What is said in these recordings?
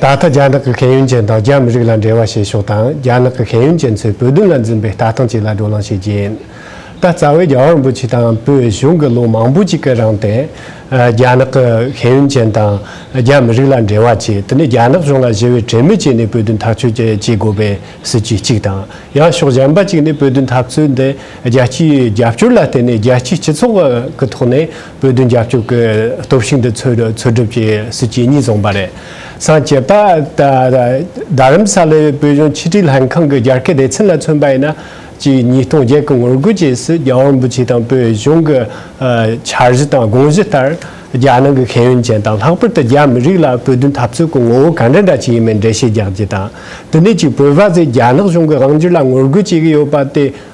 ད་ལྟ་རྒྱ་ནག་གི་ཤེས་ཡོན་ཅན་དང་རྒྱ་མི་རིགས་ལ་འབྲེལ་བ་བྱེད་ཕྱོགས་དང་རྒྱ་ནག་གི་ཤེས་ཡོན་ཅན་ཚོས་བོད་དོན་ལ་འཛིན་པའི་ལྟ་སྟངས་བཅས་ལ་བགྲོ་གླེང་བྱེད་རྒྱུ་ཡིན། ད་རྩ་བའི་རྒྱ་གར་འབོད་ཆེ་དང་བོད་གཞུང་གི་ལོ་མང་པོ་གཅིག་གི་རིང་དེ་རྒྱ་ནག་གི་ཤེས་ཡོན་ཅན་དང་རྒྱ་མི་རིགས་ལ་འབྲེལ་བ་བྱས་དེ་ནས་རྒྱ་ནག་གཞུང་ལ་ཞི་བའི་གྲོས་མོལ་བྱས་ནས་བོད་དོན་ཐག་གཅོད་བྱེད་དགོས་པའི་སྲིད་བྱུས་གཅིག་དང་ཡང་ཕྱོགས་གཞན་པ་གཅིག་ནས་བོད་དོན་འཐབ་རྩོད་འདི་རྒྱལ་སྤྱིའི་རྒྱབ་སྐྱོར་ལ་བརྟེན་ནས་རྒྱལ་སྤྱིའི་སྤྱི་ཚོགས་ཀྱི་ཐོག་ནས་བོད་དོན་རྒྱབ་སྐྱོར་གྱི་སྟོབས་ཤུགས་འདི་འཚོལ་སྒྲུབ་ཀྱི་སྲིད་ཇུས་གཉིས་བཟུང་བ་རེད། སངས་རྒྱས་པ། རྡ་རམ་ས་ལའི་བོད་གཞུང་ཕྱི་དྲིལ་ལྷན་ཁང་གི་རྒྱ་སྐད་སྡེ་ཚན་ལ་མཚོན་པ་ཡིན་ན། གཅིག་ཉིས་སྟོང་བརྒྱད་གི་ངོ་རྒོལ་རྗེས་སུ་རྒྱ་དབང་པོ་ཆེ་དང་བོད་གཞུང་གི་འཆར་གཞི་དང་དགོངས་གཞི་ལྟར། རྒྱ་ནང་གི་ཤེས་ཡོན་ཅན་དང་ལྷག་པར་དུ་རྒྱ་མི་རིགས་ལ་བོད་དོན་འཐབ་རྩོད་ཀྱི་ངོ་བོ་ག་འདྲ་འདྲ་ཞིག་ཡིན་མིན་འགྲེལ་བཤད་རྒྱག་རྒྱུ་དང། དེ་ནས་ཅིག་བོད་པ་ཚོས་རྒྱ་ནག་གཞུང་གི་དབང་སྒྱུར་ལ་ངོ་རྒོལ་བྱེད་ཀྱི་ཡོད་པ་དེ།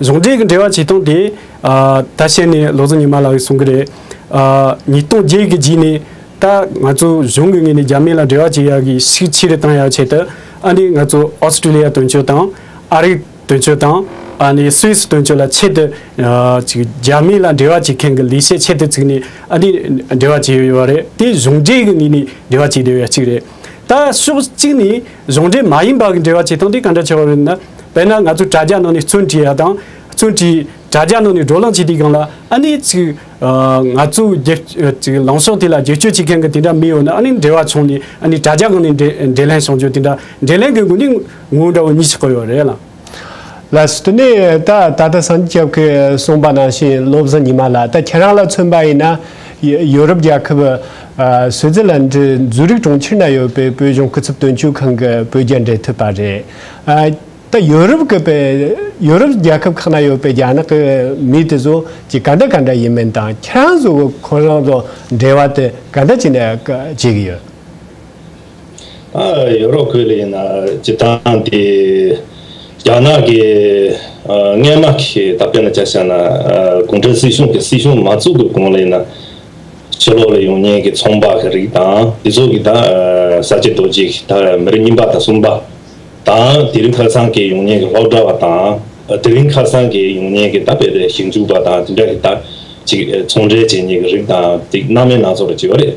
གཞུང་འབྲེལ་གྱི་འབྲེལ་བ་ཇི་སྟོང་དེ། ད་བཤད་ནས་ལོ་གཟུགས་ཉི་མ་ལགས་ཀྱིས་གསུང་གི་རེད། ཉིས་སྟོང་བརྒྱད་ཀྱི་རྗེས་ནས་ད། ང་ཚོ་གཞུང་གི་ངོས་ནས་རྒྱ་མི་ལ་འབྲེལ་བ་བྱེད་ཡག་གི་ཤིག་ཕྱིར་བཏང་ཡག་ཆེད་དུ། ཨ་ནི་ང་ཚོ Australia དོན་གཅོད་དང། ཨ་རིག་དོན་གཅོད་དང། ཨ་ནི Swiss དོན་གཅོད་ལ་ཆེད་དུ། རྒྱ་མི་ལ་འབྲེལ་བ་བྱེད་མཁན་གྱི་ལས་བྱེད་ཆེད་དུ་བཙུགས་ནས་ཨ་ནི་འབྲེལ་བ་བྱེད་ཡོད་ཡོད་རེད་དེ་གཞུང་འབྲེལ་གྱི་ངོས་ནས་འབྲེལ་བ་བྱེད་བདེ་བ་ཡག་ཅིག་རེད། ད་ཕྱོགས་གཅིག་ནས། གཞུང་འབྲེལ་མ་ཡིན་པ་གི་འབྲེལ་བ་བྱེད་སྟངས་དེ་ག་འདྲ་ཆེ་བ་རེད་ན། དཔེར་ན་ང་ཚོས་དྲ་རྒྱ་ནང་ནས་བཙོན་བྲིས་ཡ་དང། བཙོན་བྲིས། དྲ་རྒྱ་ནང་ནས་བགྲོ་གླང་བྱས་དུས་གང་ལ་ཨ་ནེ་ཚིག། ང་ཚོའི་སྒེར། ཚིག་ལངས་ཕྱོགས་དེ་ལ་བརྗོད་བཅོས་བྱེད་མཁན་གི་དེ་འདྲ་མི་ཡོད་ན་ཨ་ནེ་འབྲེལ་བ་བྱུང་ནས་ཨ་ནེ་དྲ་རྒྱ་གང་ནས་འབྲེལ་ལྷན་བྱུང་རྒྱུ་དེ་འདྲ་འབྲེལ་ལྷན་གི་དགོས་ནི་ངོ་འདྲ་བོ་གཉིས་ཤིག་གོ་ཡོད་རེད་ལ། ལ་སོད་ནས་ད་ད་ལྟ་སངས་རྒྱས་སྐྱབས་ཀྱིས་གསུངས་པ་ནང་བཞིན་བློ་བཟང་ཉི་མ་ལགས་ད་ཁྱེད་རང་ལ་མཚོན་པ་ཡིན་ན། ཡོ་རོབ་རྒྱལ་ཁབ། སོད་ཛི་ལན་དྲི་ཛུ་རིག་གྲོང་ཁྱེར་ན་ཡོད་པའི་བོད་གཞུང་སྐུ་ཚབ་དོན་གཅོད་ཁང་གི་བོད་རྒྱ་འབྲེལ་མཐུད་པ་རེད། ད་ཡོ་རོབ་ཀྱི་པའི་ཡོ་རོབ་རྒྱལ་ཁབ་ཁག་ན་ཡོད་པའི་རྒྱ་ནག་གི་མི་དེ་ཚོ་གྱི་ག་འདྲ་ག་འདྲ་ཡིན་མིན་དང་ཁྱེད་རང་ཚོ་ཁོ་རང་དང་འབྲེལ་བ་དེ་ག་འདྲ་བྱས་ནས་བྱེད་ཀྱི་ཡོད། ཡོ་རོབ་ཁུལ་ལ་ཡིན་ན་སྤྱིར་བཏང་དེ་རྒྱ་ནག་གི་མངལ་དམག་གི་ད་ཕན་ན་བསྐྱར་བཤད་ན་གུང་ཁྲན་སྲིད་གཞུང་གི་སྲིད་གཞུང་མ་བཙུགས་པའི་གོང་ལ་ཡིན་ན་ཕྱི་ལོག་ལ་ཡོང་ཉེན་གྱི་ཚོང་པ་གི་རིགས་དང་དེ་ཚོ་གི་ད་ས་སྐྱེ་རྡོ་རྗེ་གི་ད་མི་རེ་གཉིས་པ་དང་གསུམ་པ་དང་དེ་རིང་ཁ་སང་གི་ཡོང་ཉེན་གྱི་ལྷོག་དྲ་བ་དང་དེ་རིང་ཁ་སང་གི་ཡོང་ཉེན་གྱི་ད་བལ་ཞིབ་འཇུག་པ་དང་དེ་འདྲ་གི་ད་ཅིག་ཚོང་འབྲེལ་བྱེད་ཉེན་གྱི་རིགས་དང་དེ་གནའ་མའི་ན་ཚོགས་རེད་ཅེས་པ་རེད།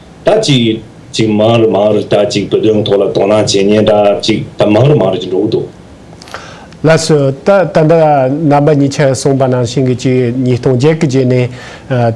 ད་ཅིག། ཅིག་མང་རུ་མང་རུ་ད་ཅིག་བུ་དོན་ཐོག་ལ་དོ་སྣང་བྱེད་ཉེན་ད་ཅིག་ད་མང་རུ་མང་རུ་ཅིག་འགྲོ་གི་འདུག། ལ་སུ། ད་ད་འདི་རྣམ་པ་གཉིས་ཆ་གསུངས་པ་ནང་བཞིན་གྱི་ཅིག་ཉིས་སྟོང་བརྒྱད་གི་རྗེས་ནས།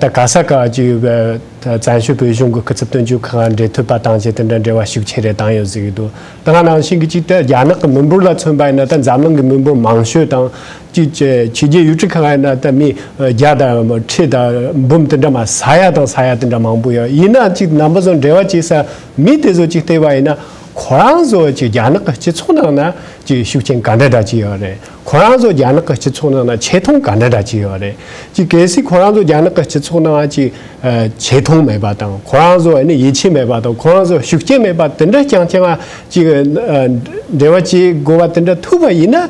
ད་ག་ས་ག་ཅིག་བཙན་བྱོལ་བོད་གཞུང་གི་སྐུ་ཚབ་དོན་གཅོད་ཁང་ག་འབྲེལ་མཐུད་པ་དང་བཅས་དེ་འདྲ་འབྲེལ་བ་ཤུགས་ཆེ་རེ་བཏང་ཡོད་ཟེར་གྱི་འདུག་དེ་སྔ་ནང་བཞིན་གྱི་ཅིག་ད་རྒྱ་ནག་གི་མི་འབོར་ལ་མཚོན་པ་ཡིན་ན་ད་འཛམ་གླིང་གི་མི་འབོར་མང་ཤོས་དང། ཅིག་བྱས་ཕྱི་རྒྱལ་ཡུལ་གྲུ་གང་ཡང་ན་ད་མི་བརྒྱ་དང་ཁྲི་དང་འབུམ་དེ་འདྲ་མ་ས་ཡ་དང་ས་ཡ་དེ་འདྲ་མང་པོ་ཡོད་ཡིན་ན་ཅིག་རྣམ་པ་ཚོ་འབྲེལ་བ་བྱེད་ས་མི་དེ་ཚོ་ཅིག་བལྟས་པ་ཡིན་ན་ཁོ་རང་ཚོ་ཅིག་རྒྱ་ནག་གི་སྤྱི་ཚོགས་ནང་ན་ཅིག་ཤུགས་ཆེན་ག་འདྲ་འདྲ་ཅིག་ཡོད་རེད་ཁོ་རང་ཚོ་རྒྱ་ནག་གི་སྤྱི་ཚོགས་ནང་ན་ཆེ་མཐོང་ག་འདྲ་འདྲ་ཅིག་ཡོད་རེད་ཅིག་གལ་སྲིད་ཁོ་རང་ཚོ་རྒྱ་ནག་གི་སྤྱི་ཚོགས་ནང་ཅིག་ཆེ་མཐོང་མེད་པ་དང་ཁོ་རང་ཚོ་ཡིད་ཆེས་མེད་པ་དང་ཁོ་རང་ཚོ་ཤུགས་རྐྱེན་མེད་པ་དེ་འདྲ་རྐྱང་རྐྱང་ཅིག་འབྲེལ་བ་བྱེད་དགོས་པ་དེ་འདྲ་ཐུག་པ་ཡིན་ན།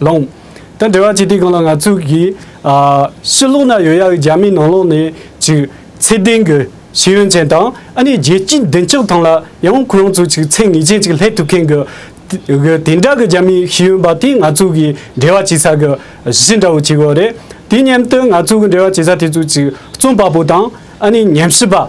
ལོང། དང་འབྲེལ་བ་བྱས་ཏེ་གང་ལ་ང་ཚོས་ཀྱི། ཕྱི་ལོགས་ན་ཡོད་ཡ་གི་རྒྱ་མིའི་ནང་ལོགས་ནས་ཅིག། ཚད་ལྡན་གྱི་ཤེས་ཡོན་ཅན་དང་ཨ་ནི་རྒྱལ་སྤྱིའི་བདེ་འཇགས་ཐང་ལ་ཡང་ཁོ་རང་ཚོ་ཅིག་ཚད་ངེས་ཅན་ཅིག་ལྷད་ཐུབ་མཁན་གྱི། དེ་འདྲ་གི་རྒྱ་མིའི་ཤེས་ཡོན་པ་དེ་ང་ཚོ་གི་འབྲེལ་བ་བྱེད་ས་གི་གཞི་འདྲ་བོ་བྱེད་དགོས་རེད། དེ་མཉམ་དུ་ང་ཚོ་གི་འབྲེལ་བ་བྱེད་ས་དེ་ཚོ་ཅིག་རྩོམ་པ་པོ་དང་ཨ་ནི་ཉམས་ཞིབ་པ།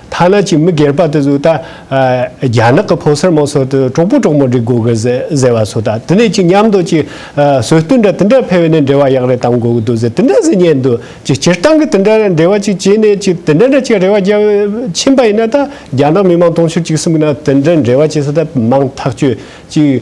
ཐ་ན་གཅིག་མི་སྒེར་པ་དེ་ཚོས་ད། རྒྱ་ནག་གི་ཕོ་སེར་མོ་སོགས་དེ་གྲོགས་པོ་གྲོགས་མོ་འདྲེ་དགོས་གི་ཟེར་བ་ཚོ་ད་དེ་ནས་ཅིག་མཉམ་དུ་ཅིག། སྲོལ་རྟུལ་འདྲ་དེ་འདྲ་འཕེལ་བས་ནས་འབྲེལ་བ་ཡག་རེ་གཏང་དགོས་གི་འདུག་ཟེར་དེ་འདྲ་ཟེར་ཉན་འདུག་ཅིག་སྤྱིར་བཏང་གི་དེ་འདྲ་འབྲེལ་བ་ཅིག་བྱས་ནས་ཅིག་དེ་འདྲ་འདྲ་ཅིག་རེ་བ་རྒྱབ་ཕྱིན་པ་ཡིན་ན་ད་རྒྱ་ནག་མི་མང་དུང་ཕྱུར་གཅིག་གསུམ་གི་ནང་དེ་འདྲ་འབྲེལ་བ་བྱས་ས་ད་མང་ཐག་ཆོད་ཅིག།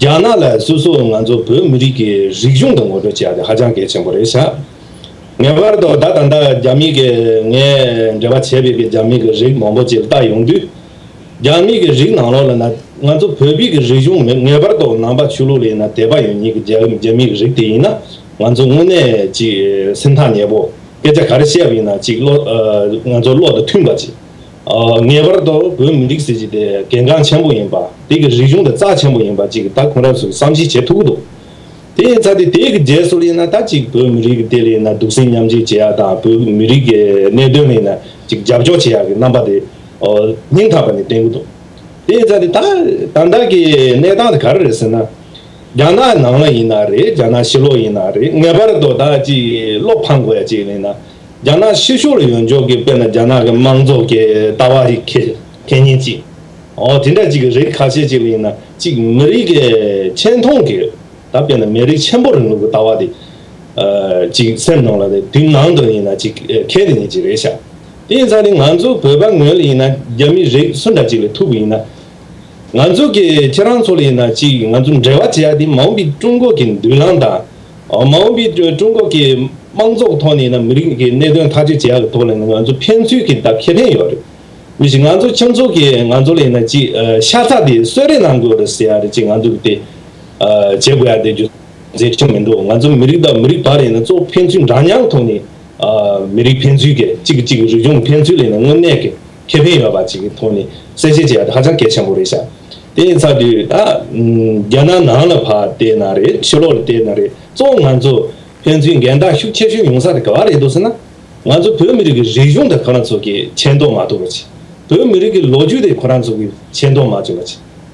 རྒྱ་ནག་ལ་སོ་སོ་ང་ཚོ་བོད་མི་རིགས་ཀྱི་རིག་གཞུང་དང་ངོ་སྤྲོད་བྱས་ཏེ་ཧ་ཅང་གལ་ཆེན་པོ་རེད་བྱ། ངེས་པར་དུ་ད་ད་ལྟ་རྒྱ་མི་གིས་ངས་འབྲེལ་བ་བྱས་པའི་གི་རྒྱ་མི་གི་རིགས་མང་པོ་ཅིག་བཏགས་ཡོང་དུས། རྒྱ་མི་གི་རིགས་ནང་ལོགས་ལ་ན་ང་ཚོ་བོད་པི་གི་རིག་གཞུང་མེད་ངེས་པར་དུ་ནང་པ་ཆོས་ལུགས་ལས་ན་དད་པ་ཡོད་ཉིད་གི་རྒྱ་རྒྱ་མི་གི་རིགས་དེ་ཡིན་ན་ང་ཚོ་དངོས་གནས་ཅིག་སེམས་ཐག་ཉེ་པོ་སྐད་ཆ་ག་རེ་བཤད་པ་ཡིན་ན་ཅིག་བློ་ང་ཚོ་བློ་དང་མཐུན་པ་ཅིག་ངེས་པར་དུ་བོད་མི་རིགས་ཟེར་གྱི་དེ་གལ་འགངས་ཆེན་པོ་ཡིན་པ། དེ་གི་རིག་གཞུང་དེ་རྩ་ཆེན་པོ་ཡིན་པ་ཅིག་ད་གོང་རབས་སུ་བསམ་གཞིག་བྱེད་ཐུག་གི་འདུག་དེ་ཡིན་ཚ་དེ་དེ་གི་རྗེས་སོར་ཡིན་ན་ད་ཅིག་བོད་མི་རིགས་དེ་ལ་ཡིན་ན་སྡུག་སྲན་མཉམ་བྱེད་བྱེད་ཡ་དང་བོད་མི་རིགས་གི་གནད་དོན་ལ་ཡིན་ན་ཅིག་རྒྱབ་སྐྱོར་བྱེད་ཡ་གི་རྣམ་པ་དེ་སྙིང་ཐག་པ་ནས་བསྟན་གི་འདུག་དེ་ཡིན་ཚ་དེ་ད་ད་ལྟ་གི་གནས་སྟངས་དེ་ག་རེ་རེད་ཟེར་ན། རྒྱ་ནག་ནང་ལ་ཡིན་ན་རེད་རྒྱ་ནག་ཕྱི་ལོགས་ཡིན་ན་རེད་ངེས་པར་དུ་ད་ཅིག་བློ་ཕམ་དགོས་ཡ་ཅིག་ལ་ཡིན་ན། རྒྱ་ནག་ཕྱི་ཕྱོགས་ལ་ཡོང་འཇོག་གི་དཔེར་ན་རྒྱ་ནག་གི་དམངས་ཚོགས་ཀྱི་ལྟ་བ་རིགས་ཁས་ཁས་ཉིན་གཅིག་འོ་དེ་འདྲ་ཅིག་གི་རིགས་ཁ་ཤས་ཅིག་ལ་ཡིན་ན་གཅིག་མི་རིགས་ཀྱི་ཆེ་མཐོང་གི་ད་དཔེར་ན་མི་རིགས་ཆེན་པོ་རིང་ལུགས་ཀྱི་ལྟ་བ་དེ་ཅིག་སེམས་ནང་ལ་དེ་དུས་ནང་དུ་ཡིན་ན་ཅིག་ཁས་ལེན་ཉིན་ཅིག་རེད་ཤག་དེ་ཡིན་ཚང་ནི་ང་ཚོ་བོད་པ་ངོས་ལ་ཡིན་ན་རྒྱ་མི་རིགས་སུ་འདྲ་ཅིག་ལ་ཐུག་གི་ཡིན་ན་ང་ཚོ་གི་ཁྱེད་རང་ཚོ་ལ་ཡིན་ན་ཅིག་ང་ཚོ་འབྲེལ་བ་བྱེད་ཡ་དེ་མང་པོ་ཀྱི་ཀྲུང་གོ་གི་མདུན་ལམ་དང། མ་འོངས་པའི་ཀྲུང་གོ་གི་དམངས་ཚོགས་ཐོག་ནས་མི་རིགས་ཀྱི་གནད་དོན་ཐག་གཅོད་བྱེད་ཡག་གི་ཐོག་ལ་ང་ཚོ་ཕན་ཚུན་གྱི་བརྡ་ཁྱད་ལྡན་ཡོད་རེད། ང་ཚོ་ཁྱིམ་ཚོགས་ཀྱི་ང་ཚོ་ལ་ཡིན་ན་ཅིག་ཤ་ཚ་དེ་གསོད་རེས་གནང་དགོས་རེད་ཟེར་ཡག་རེད་ཅིག་ང་ཚོ་དེ་བྱེད་དགོས་ཡག་དེ་རྒྱུ་མཚན་ཆེན་མི་འདུག་ང་ཚོ་མི་རིགས་དང་མི་རིགས་བར་ལ་ཡིན་ན་གཙོ་བོ་ཕན་ཚུན་འདྲ་མཉམ་ཐོག་ནས་མི་རིགས་ཕན་ཚུན་གྱི་གཅིག་གིས་གཅིག་གི་རིག་གཞུང་ཕན་ཚུན་ལ་ཡིན་ན་དངོས་གནས་ཀྱི། ཁེ་ཕན་ཡོད་པ་ཅིག་གི་ཐོག་ནས་གསལ་བཤད་བྱས་པ་དེ་ཧ་ཅང་གལ་ཆེན་པོ་རེད་ཤག་དེ་ཡིན་ཚར་དུས་ད་རྒྱ་ནག་ནང་ལ་བལྟས་ན་རེད་ཕྱི་ལོག་ལ་བལྟས་ན་རེད་གཙོ་བོ་ང་ཚོ་ཕན་ཚུན་འགལ་ཟླ་ཤུགས་ཆེ་ཤོས་ཡོང་ས་དེ་ག་བ་རེད་འདུག་ཟེར་ན་ང་ཚོ་བོད་མི་རིགས་ཀྱི་རིག་གཞུང་དེ་ཁོ་རང་ཚོ་གིས་མཁྱེན་རྟོགས་མ་ཐུབ་པ་ཅིག་བོད་མི་རིགས་ཀྱི་ལོ་རྒྱུས་དེ་ཁོ་རང་ཚོ་གིས་མཁྱེན་རྟོགས་མ་བྱུང་བ་ཅིག།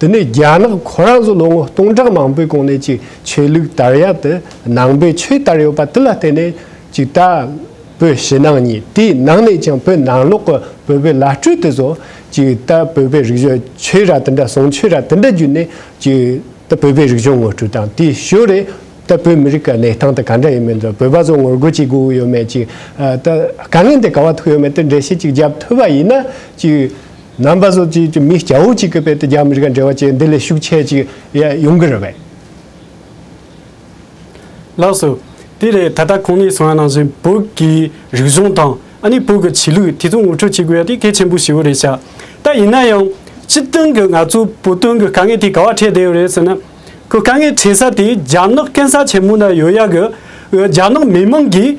དེ་ནས་རྒྱ་ནག་ཁོ་རང་ཚོ་ལོ་ངོ་སྟོང་ཕྲག་མང་པོའི་གོང་ནས་ཅིག་ཆོས་ལུགས་དར་ཡག་དེ་ནང་པའི་ཆོས་དར་ཡོད་པ་དེ་ལ་བརྟེན་ནས་ཅིག་ད་བོད་ཕྱི་ནང་གཉིས་དེའི་ནང་ནས་ཀྱང་བོད་ནང་ལོག་གི་བོད་པའི་བླ་སྤྲུལ་དེ་ཚོ་ཅིག་ད་བོད་པའི་རིག་གཞུང་ཆོས་ར་དེ་འདྲ་བཟང་ཆོས་ར་དེ་འདྲ་བརྒྱུད་ནས་ཅིག་ད་བོད་པའི་རིག་གཞུང་ངོ་སྤྲོད་དང་དེའི་ཞོར་རེ་ད་བོད་མི་རིགས་ཀྱི་གནས་སྟངས་དེ་ག་འདྲ་ཡིན་མིན་དང་བོད་པ་ཚོ་ངོ་རྒོལ་བྱེད་དགོས་ཀྱི་ཡོད་མེད་ཅིག་ད་དཀའ་ངལ་འདི་ག་བ་ཐུག་ཡོད་མེད་དེ་འགྲེལ་བཤད་ཅིག་བརྒྱབ་ཐུབ་པ་ཡིན་ན་ཅིག་རྣམ་པ་ཟོ་ཅིག་མི་སྐྱ་བོ་གཅིག་གི་དཔེ་དེ་རྒྱ་མི་རིགས་ཀ་འབྲེལ་བ་ཅན་འདི་ལས་ཤུགས་ཆེ་ཅིག་ཡོང་གི་རེད་བས། ལགས་སོ། དེ་ལས་ད་ལྟ་ཁོང་ནས་གསུང་བ་ནང་བཞིན་བོད་ཀྱི་རིག་གཞུང་དང་ཨ་ནི་བོད་ཀྱི་ཆོས་ལུགས་དེ་ཚོ་ངོ་འཕྲོད་བྱེད་དགོས་ཡ་དེ་གལ་ཆེན་པོ་ཞིག་རེད་ཤག་ད་ཡིན་ན་ཡང་སྤྱི་དོན་གྱི་ང་ཚོ་བོད་དོན་གྱི་དཀའ་ངལ་དེ་ག་བ་འཕྲད་བསྡད་ཡོད་རེད་ཟེར་ན་ཁོ་དཀའ་ངལ་འཕྲད་ས་དེ་རྒྱ་ནག་གན་ས་ཆེན་མོ་ན་ཡོད་ཡ་གི་རྒྱ་ནག་མི་མང་གིས་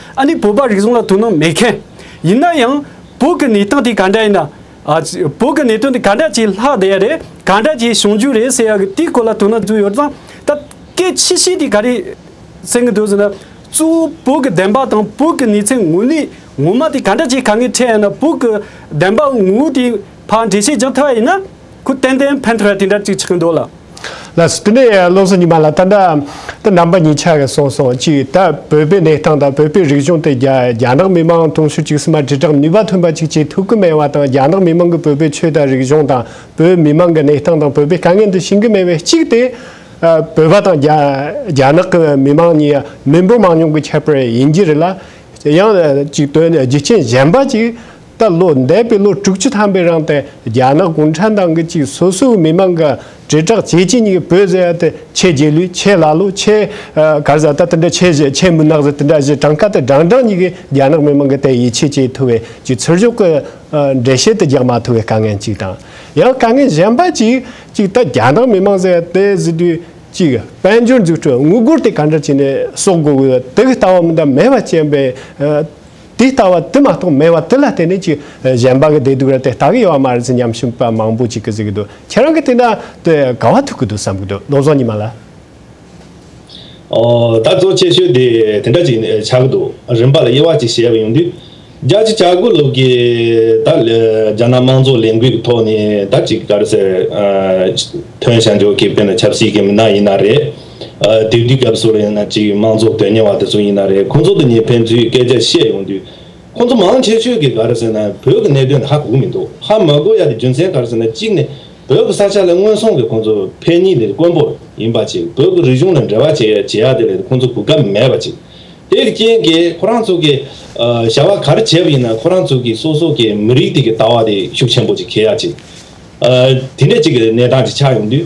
ཨ་ནི་བོད་པ་རིག་གཞུང་ལ་དོ་སྣང་མེད་མཁན། ཡིན་ན་ཡང། བོད་ཀྱི་གནས་སྟངས་དེ་ག་འདྲ་ཡིན་ན། བོད་ཀྱི་གནད་དོན་དེ་ག་འདྲ་ཅིག་ལྷག་བསྡད་ཡ་རེད། ག་འདྲ་ཅིག་བྱུང་རྒྱུ་རེད་ཟེར་ཡ་གི་དེའི་སྐོར་ལ་དོ་སྣང་བརྫུས་ཡོད་ཙང། ད་སྐད་ཆེ་ཤོས་དེ་ག་རེད་ཟེར་གི་འདུག་ཟེར་ན། གཙོ་བོ་བོད་ཀྱི་བདེན་པ་དང་བོད་ཀྱི་གནས་ཚད་དངོས་གནས་ངོ་མ་དེ་ག་འདྲ་ཅིག་ག་ངས་ཁྲེལ་ཡ་ན་བོད་ཀྱི་བདེན་པ་ངོ་བོ་དེ་ཕར་འགྲེལ་བཤད་རྒྱག་ཐུབ་ཡ་ཡིན་ན། ཁོས་ཏན་ཏན་ཕན་ཐོགས་ཡ་དེ་འདྲ་ཅིག་ཆགས་ཀྱི་འདུག་ལ། ལ་སོགས་དེ་ནས་བློ་བཟང་ཉི་མ་ལ་ད་ལྟ་དུ་རྣམ་པ་གཉིས་ཆགས་ཀྱི་སོང་སོང་གཅིག་ད་བོད་པའི་གནས་སྟངས་དང་བོད་པའི་རིག་གཞུང་དེ་རྒྱ་ནག་མི་མང་དུང་ཕྱུར་གཅིག་སུ་མ་དྲིལ་བསྒྲགས་ནུས་པ་ཐོན་པ་གཅིག་བྱེད་ཐུབ་ཀྱི་མེད་བ་དང་རྒྱ་ནག་མི་མང་གི་བོད་པའི་ཆོས་དང་རིག་གཞུང་དང་བོད་མི་མང་གི་གནས་སྟངས་དང་བོད་པའི་དཀའ་ངལ་འདི་ཤེས་ཀྱི་མེད་བས་གཅིག་དེ་བོད་པ་དང་རྒྱ་ནག་གི་མི་མང་གཉིས་མི་འབོར་མང་ཉུང་གི་ཁྱད་པར་ཡིན་གྱི་རེད་ལ་ཡང་གཅིག་དོན་རྒྱུ་རྐྱེན་གཞན་པ་གཅིག་ལྟར་ལོ་འདས་པའི་ལོ་དྲུག་ཅུ་ཐམ་པའི་རིང་དུ་རྒྱ་ནག་གུང་ཁྲན་ཏང་གི་ཅིག་སོ་སོའི་མི་དམངས་ཀྱི་དྲིལ་བསྒྲགས་བྱེད་ཀྱི་ཉིད་བོད་ཟེར་ཡ་དེ་ཁྱེད་རྗེས་ལུས་ཁྱེད་ལ་ལུས་ཁྱེད་གར་བཟའ་ད་དེ་འདྲ་ཁྱེད་བཞེས་ཁྱེད་མུན་ནག་ཟེར་དེ་འདྲ་བཞེས་གྲངས་ཀ་དེ་བགྲང་བགྲང་ཉིད་ཀྱིས་རྒྱ་ནག་མི་དམངས་ཀྱི་དེ་ཡིད་ཆེས་བྱེད་ཐུབ་བའི་ཅིག་ཚུར་ཤོག་གི་འགྲེལ་བཤད་དེ་རྒྱག་མ་ཐུབ་བའི་དཀའ་ངལ་ཅིག་དང། ཡང་དཀའ་ངལ་གཞན་པ་ཅིག་ཅིག་ད་རྒྱ་ནག་མི་དམངས་ཟེར་ཡ་དེ་བཟི་དུས་ཅིག་དཔལ་འབྱོར་འཛུགས་སྐྲུན་དངུལ་སྒོར་དེ་ག་འདྲ་བྱས་ནས་གསོག་དགོས་དགོས་དེ་གི་ལྟ་བ་མི་འདང་མེད་པ་ཅན་པའི། དེ་ལྟ་བ་དེ་མ་གཏོགས་མེད་བ་དེ་ལ་བརྟེན་ནས་ཀྱི་གཞན་པ་གི་བདེ་སྡུག་ར་དེ་ལྟ་གི་ཡོད་བ་མ་རེད་ཟེར་སྙམ་བཞིན་པ་མང་པོ་ཅིག་གི་གཟིགས་ཀྱི་འདུག་ཁྱེད་རང་གི་དེ་འདྲ་དེ་ག་བ་ཐུག་གི་འདུག་བསམ་གྱི་འདུག་རྡོ་བཟོ་ཉི་མ་ལ། ད་གཙོ་ཆེ་ཤོས་དེ་དེ་འདྲ་ཅིག་ཆགས་ཀྱི་འདུག་རིམ་པ་ལ་དབྱེ་བ་ཅིག་བྱས་པ་ཡོང་དུས། རྒྱ་ཆེ་ཆགས་དགོས་ལུགས་ཀྱི་ད་རྒྱ་ནག་དམངས་གཙོ་ལས་འགུལ་གྱི་ཐོག་ནས་ད་ཅིག་ག་རེ་ཟེར་དོན་བྱ་འཇོག་གི་དཔེ་ན་ཆབ་སྲིད་ཀྱི་མི་སྣ་ཡིན་ན་རེད། དེབ་འདིའི་སྐབས་སུ་ཡང་ན་གཅིག་དམངས་ཚོགས་དོན་གཉེར་བ་དེ་ཚོ་ཡིན་ན་རེད་ཁོང་ཚོ་དེ་ཉིད་ཕན་ཚུན་སྐད་ཆ་བཤད་ཡོང་དུས་ཁོང་ཚོ་མང་ཆེ་ཤོས་ཀྱིས་ག་རེ་ཟེར་ན་བོད་ཀྱི་གནད་དོན་དེ་ཧ་གོ་གི་མི་འདུག་ཧ་མ་གོ་ཡ་དེ་རྒྱུ་མཚན་ག་རེ་ཟེར་ན་གཅིག་ནི་བོད་ཀྱི་ས་ཆ་ལ་སྔོན་སོང་གི་ཁོང་ཚོ་ཕན་གཉིས་ནི་དཀོན་པོ་ཡིན་པ་ཅིག་བོད་ཀྱི་རིག་གཞུང་ལ་འབྲེལ་བ་བྱེད་ཡ་བྱེད་ཡ་དེ་ལས་ཁོང་ཚོ་གོ་སྐབས་མེད་པ་ཅིག་དེ་གི་རྐྱེན་གྱིས་ཁོ་རང་ཚོ་གི་བྱ་བ་ག་རེ་བྱས་པ་ཡིན་ན་ཁོ་རང་ཚོ་གི་སོ་སོ་གི་མི་རིགས་དེ་གི་ལྟ་བ་དེ་ཤུགས་ཆེན་པོ་ཅིག་འཁེལ་ཡ་ཅིག་དེ་འདྲ་ཅིག་གི་གནས་སྟངས་ཅིག་ཆགས་ཡོང་དུས།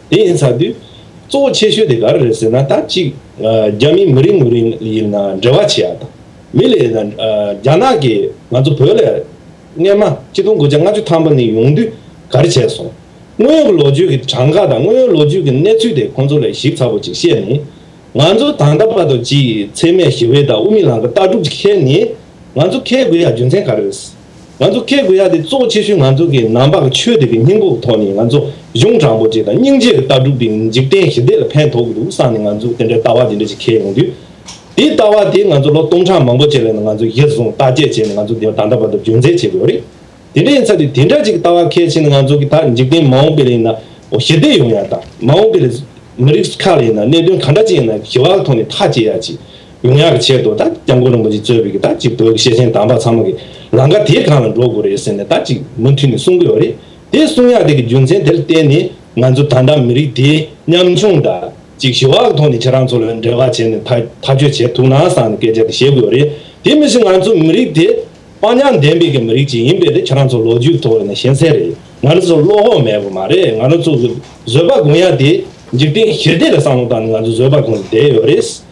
དེ་ཡིན་ཚར་དུས། གཙོ་བོ་ཆེ་ཤོས་དེ་ག་རེ་རེད་ཟེར་ན་ད་གཅིག། རྒྱ་མིའི་མི་རིགས་ངོས་རིང་ཡིན་ན་འབྲེལ་བ་བྱེད་ཡག་དང། མི་ལས་ཡིན་ན། རྒྱ་ནག་གིས་ང་ཚོ་བོད་ལ། རྔན་མ། སྤྱི་སྟོང་དགུ་བརྒྱ་ལྔ་ཅུ་ཐམ་པ་ནི་ཡོང་དུས་ག་རེ་བྱས་སོང། དངོས་ཡོད་ཀྱི་ལོ་རྒྱུས་ཀྱི་གྲངས་ཀ་དང་དངོས་ཡོད་ལོ་རྒྱུས་ཀྱི་གནས་ཚུལ་དེ་ཁོང་ཚོ་ལས་ཞིབ་ཚགས་པོ་ཅིག་བཤད་ནས། ང་ཚོ་ད་ལྟ་བར་དུ་ཅིའི་ཚེ་མེད་ཞི་བའི་དང་དབུ་མའི་ལམ་གྱི་ལྟ་གྲུབ་ཅིག་ཁྱེར་ནས། ང་ཚོ་ཁེལ་དགོས་ཡ་རྒྱུ་མཚན་ག་རེ་རེད། ང་ཚོ་སྐད་དགུ་ཡ་དེ་གཙོ་བོ་ཆེ་ཤོས་ང་ཚོ་གི་ནང་པ་གི་ཆོས་དེ་གི་སྙིང་པོ་གི་ཐོག་ནས་ང་ཚོ་གཞུང་དྲང་པོ་བཅས་དང་སྙིང་རྗེ་གི་ལྟ་གྲུབ་དེ་འཇིག་རྟེན་ཞི་བདེ་ལ་ཕན་ཐོག་གི་འདུག་བསམ་ནས་ང་ཚོ་དེ་འདྲའི་ལྟ་བ་དེ་འདྲ་ཞིག་ཁེལ་ཡོང་དུས། དེའི་ལྟ་བ་དེ་ང་ཚོ་ལོ་སྟོང་ཕྲག་མང་པོ་བཅས་ལས་ནང་ང་ཚོ་གཞིར་བཟུང་བརྟག་དཔྱད་བྱས་ནས་ང་ཚོ་དེ་ད་ལྟ་བར་དུ་རྒྱུན་འཛིན་བྱེད་དགོས་རེད། དེ་འདྲ་ཡིན་ཚ་དུས་དེ་འདྲ་ཅིག་གི་ལྟ་བ་ཁེལ་ཕྱིན་ན་ང་ཚོ་གི་ད་འཇིག་རྟེན་མ་འོངས་པའི་ལ་ཡིན་ན་འོ་ཞི་བདེ་ཡོང་ཡ་དང་མ་འོངས་པའི་ལ་མི་རིགས་ཁག་ལ་ཡིན་ན་གནད་དོན་གང་འདྲ་ཅིག་ཡིན་ན་ཞི་བ་གི་ཐོག་ནས་ཐག་བཅད་ཡ་ཅིག་ཡོང་ཡག་གི་ཆེད་དུ་ད་སྐྱབས་མགོན་རིན་པོ་ཆེ་གཙོས་པའི་ད་ཅིག་བོད་ཀྱི་ཤེས་ཆེན་དམ་པ་ཚང་མ་གི་ལང་ཀ་དེ་གང་ལ་འགྲོ་དགོས་རེད་ཟེར་ནས་ད་ཅིག་མུ་མཐུད་ནས་གསུང་གི་ཡོད་རེད་དེ་གསུང་ཡག་དེ་གི་རྒྱུ་མཚན་དེར་བརྟེན་ནས་ང་ཚོ་ད་ལྟ་མི་རིགས་དེ་ཉམ་ཆུང་ད་ཅིག་ཞི་བ་གི་ཐོག་ནས་ཁྱེད་རང་ཚོ་ལ་འབྲེལ་བ་བྱས་ནས་ཐག་གཅོད་བྱས་ཐུག་ན་བསམ་ནས་སྐད་ཆ་དེ་བཤད་གི་ཡོད་རེད་དེ་མི་སྲིད་ང་ཚོ་མི་རིགས་དེ་དཔའ་ཉམས་ལྡན་པའི་གི་མི་རིགས་ཅིག་ཡིན་པས་ད་ཁྱེད་རང་ཚོ་ལོ་རྒྱུས་ཐོག་ནས་ཤེས་གསལ་རེད་ང་རང་ཚོ་བློ་ཧོག་མེད་པ་མ་རེད་ང་རང་ཚོ་གི་བཟོད་པ་སྒོམ་ཡག་དེ་འཇིག་རྟེན་ཞི་བདེ་ལ་བསམ་བློ་བཏང་ནས་ང་ཚོ་བཟོད་པ་སྒོམ་བསྡད་ཡོད་རེད།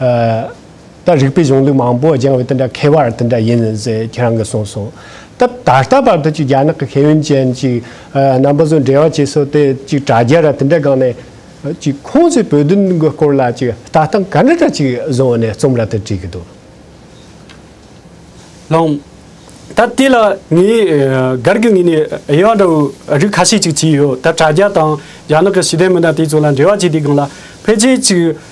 ད་རིག་པའི་གཞུང་ལུགས་མང་པོ་སྦྱང་བའི་དེ་འདྲ་མཁས་པར་དེ་འདྲ་ཡིན་ཟེར་ཁྱེད་རང་གིས་གསུངས་སོང། ད་ད་ལྟ་བར་དུ་ཅིག་རྒྱ་ནག་གི་མཁས་དབོན་ཅན་གཅིག་རྣམ་པ་ཚོ་འབྲེལ་བ་བྱེད་སྲོལ་དེ་ཅིག་དྲ་རྒྱ་ར་དེ་འདྲ་སྒང་ནས་ཅིག་ཁོང་ཚོས་བོད་དོན་གི་སྐོར་ལ་ཅིག་ལྟ་སྟངས་ག་འདྲ་འདྲ་ཅིག་བཟུང་བ་ནས་རྩོམ་ར་དེ་བྲིས་གི་འདུག། ལོང། ད་དེ་ལ་ངས་སྒར་གྱི་ངོས་ནས་དབྱེ་བ་འདྲ་བོའི་རིགས་ཁ་ཤས་ཅིག་བྱས་ཡོད། ད་དྲ་རྒྱ་དང་རྒྱ་ནག་གི་ཞི་བདེ་མི་སྣ་དེ་ཚོ་ལ་འབྲེལ་བ་བྱས་དེའི་སྒང་ལ་ཕལ་ཆེར་ཅིག་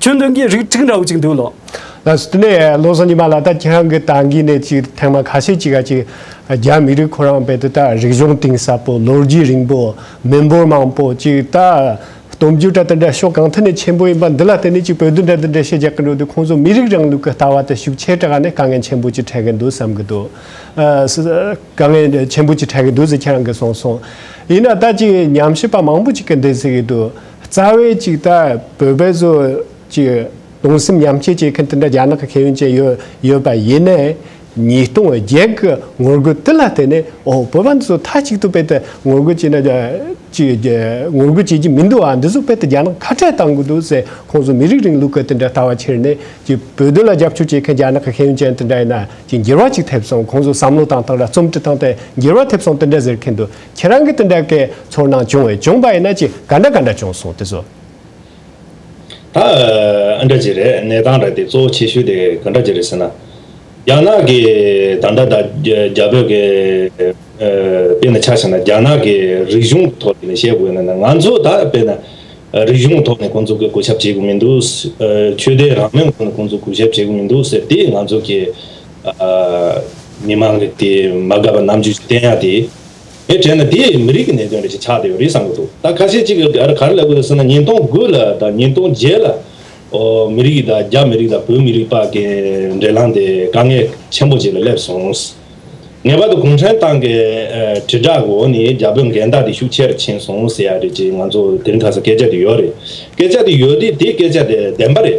ཁྱོད་འདོན་གྱི་རིགས་ཁྲིགས་འདྲ་བོ་ཅིག་འདུག་ལོ། ལ་སུ་ཏུ་ནེ་ཡཱ་ལོ་སོ་ཉི་མ་ལ་ད་ཁྱང་གི་ཏང་གི་གནས་ཚིག་ཐེངས་མ་ཁ་ཤས་ཅི་ག་ཅིག་རྒྱ་མི་རིགས་ཁོ་རང་བས་དུ་ད་རིག་གཞུང་གཏིང་ཟབ་པོ་ལོ་རྒྱུས་རིང་པོ་མི་འབོར་མང་པོ་ཅིག་ད་སྟོབས་འབྱོར་གྲ་ཏུ་འདྲ་ཤོག་གང་ཐད་ནས་ཆེན་པོ་ཡིན་པ་འདི་ལ་བརྟེན་ནས་ཅིག་བོད་དུ་འདྲ་དུ་འདྲ་ཤེས་རྒྱག་གི་འགྲོ་དུས་ཁོང་ཚོ་མི་རིགས་རང་ལུགས་ཀྱི་ལྟ་བ་དེ་ཤུགས་ཆེ་དྲག་ནས་དཀའ་ངལ་ཆེན་པོ་ཅིག་འཕྲད་གི་འདུག་བསམ་གི་འདུག་དཀའ་ངལ་ཆེན་པོ་ཅིག་འཕྲད་གི་འདུག་ཟེར་ཁྱེད་རང་གིས་གསུངས་སོང་ཡིན་ན་ད་ཅིག་ཉམས་ཞིབ་པ་མང་པོ་ཅིག་གི་འདས་ཟིག་གི་འདུག། རྩ་བའི་གཅིག་ལྟ་བུ་བོད་བཟོ་གཅིག་གདུང་སེམས་མཉམ་སྐྱེད་བྱེད་མཁན་དེ་འདྲ་རྒྱ་ནག་གི་ཁེ་ཡོན་ཅན་ཡོད་པ་ཡིན་ནའི། ཉིས་སྟོང་བརྒྱད་ཀྱི་ངོ་རྒོལ་དེ་ལ་བརྟེན་ནས་ཨོ་བོད་པ་འདི་ཚོ་མཐའ་གཅིག་ཏུ་དཔེ་དེབ་ངོ་རྒོལ་བྱས་ན་ཅིག་ངོ་རྒོལ་བྱེད་ཀྱི་མི་འདུག་ཨ་འདི་ཚོ་དཔེ་དེབ་རྒྱ་ནག་ཁ་བྲལ་བཏང་དགོས་འདུག་ཟེར་ཁོང་ཚོ་མི་རིགས་རིང་ལུགས་ཀྱི་དེ་འདྲ་ལྟ་བ་ཁྱེར་ནས་ཅིག་བོད་དོན་ལ་རྒྱབ་སྐྱོར་བྱེད་མཁན་རྒྱ་ནག་གི་ཁེ་ཡོན་ཅན་དེ་འདྲ་ཡིན་ན་ཅིག་འགྱུར་བ་ཅིག་ཐེབས་སོང་ཁོང་ཚོ་བསམ་བློ་བཏང་བཏང་ར་རྩོམ་འབྲི་བཏང་སྟེ་འགྱུར་བ་ཐེབས་སོང་དེ་འདྲ་ཟེར་མཁན་འདུག་ཁྱེད་རང་གི་དེ་འདྲ་ཀའི་ཚོར་སྣང་བྱུང་བས་བྱུང་པ་ཡིན་ན་ཅི་ག་འདྲ་ག་འདྲ་བྱུང་སོང་དེ་ཚོ། ད་ཨ་འདྲ་ཅི་རེད་གནས་སྟངས་རེད་དེ་གཙོ་བོ་ཆེ་ཤོས་དེ་ག་འདྲ་ཅི་རེད་ཟེར་ན། རྒྱ་ནག་གི་ད་འདྲ་ད་རྒྱ་བོད་ཀའི་དཔེ་ན་ཆགས་ཤེ་ན་རྒྱ་ནག་གི་རིག་གཞུང་གི་ཐོག་ནས་བཤད་དགོས་ན་ང་ཚོ་ད་དཔེ་ན་རིག་གཞུང་གི་ཐོག་ནས་ཁོང་ཚོ་གི་གོ་ཞབས་བྱེད་དགོས་མི་འདུག་ཆོས་དད་རང་མོས་ཁོང་ཚོ་གོ་ཞབས་བྱེད་དགོས་མི་འདུག་ཟེར་དེ་ང་ཚོ་གི། མི་མང་གི་དེ་མ་དགའ་བ་རྣམས་ཀྱིས་བསྟན་ཡག་དེ། དེ་དྲན་ན་དེ་མི་རིགས་ཀྱི་གནད་དོན་རེད་ཅེས་ཆགས་བསྡད་ཡོད་རེད་བསམ་གྱི་འདུག་ད་ཁ་ཤས་ཅིག་གིས་དེ་ག་རེ་ལབ་དགོས་རེད་ཟེར་ན་ཉིན་སྟོང་དགུ་ལ་དང་ཉིན་སྟོང་བརྒྱད་ལ། ཨོ་མི་རིགས་དང་རྒྱ་མི་རིགས་དང་བོད་མི་རིགས་བར་གྱི་འབྲེལ་ལམ་དེ་དཀའ་ངལ་ཆེན་པོ་ཅིག་ལ་སླེབས་སོང། ངེས་པར་དུ་གུང་ཁྲན་ཏང་གི་དྲིལ་བསྒྲགས་འོག་ནས་རྒྱ་བོད་འགལ་ཟླ་དེ་ཤུགས་ཆེ་རུ་ཕྱིན་སོང་ཟེར་ཡག་རེད་ཅེས་ང་ཚོ་དེ་རིང་ཁ་སང་སྐད་ཆ་དེ་ཡོད་རེད་སྐད་ཆ་དེ་ཡོད་དེ་དེ་སྐད་ཆ་དེ་བདེན་པ་རེད།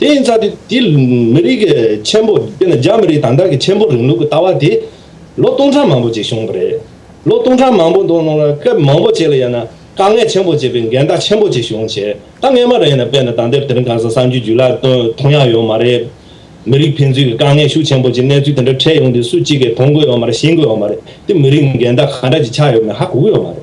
དེ་ཡིན་ཙང་དེ་མི་རིགས་ཀྱི་ཆེན་པོ་དཔེར་ན་རྒྱ་མི་རིགས་དང་དག་གི་ཆེན་པོ་རིང་ལུགས་ཀྱི་ལྟ་བ་དེ་ལོ་སྟོང་ཕྲག་མང་པོ་ཅིག་བྱུང་བ་རེད། ལོ་སྟོང་ཕྲག་མང་པོ་འདུག་ནང་ལ་སྐབས་མང་པོ་ཅིག་ལ་ཡང་ན་དཀའ་ངལ་ཆེན་པོ་བྱས་པའི་འགལ་ཟླ་ཆེན་པོ་ཅིག་བྱུང་བྱས་དཀའ་ངལ་མ་རེད་ན་དཔེར་ན་དང་དེབ་དེ་རིང་གང་ཟག་གསར་འགྱུར་བརྒྱུད་ལ་མཐོང་ཡག་ཡོད་མ་རེད། མི་རིགས་ཕན་ཚུན་གྱི་དཀའ་ངལ་ཤུགས་ཆེན་པོ་ཅིག་གནས་ཚུལ་དེ་འདྲ་འཕྲད་ཡོང་དུས་སུ་གཅིག་གིས་མཐོང་དགོས་ཡོད་མ་རེད་ཤེས་དགོས་ཡོད་མ་རེད་དེ་མི་རིགས་འགལ་ཟླ་གང་འདྲ་ཅིག་ཆགས་ཡོད་མེད་ཧ་གོ་གི་ཡོད་མ་རེད།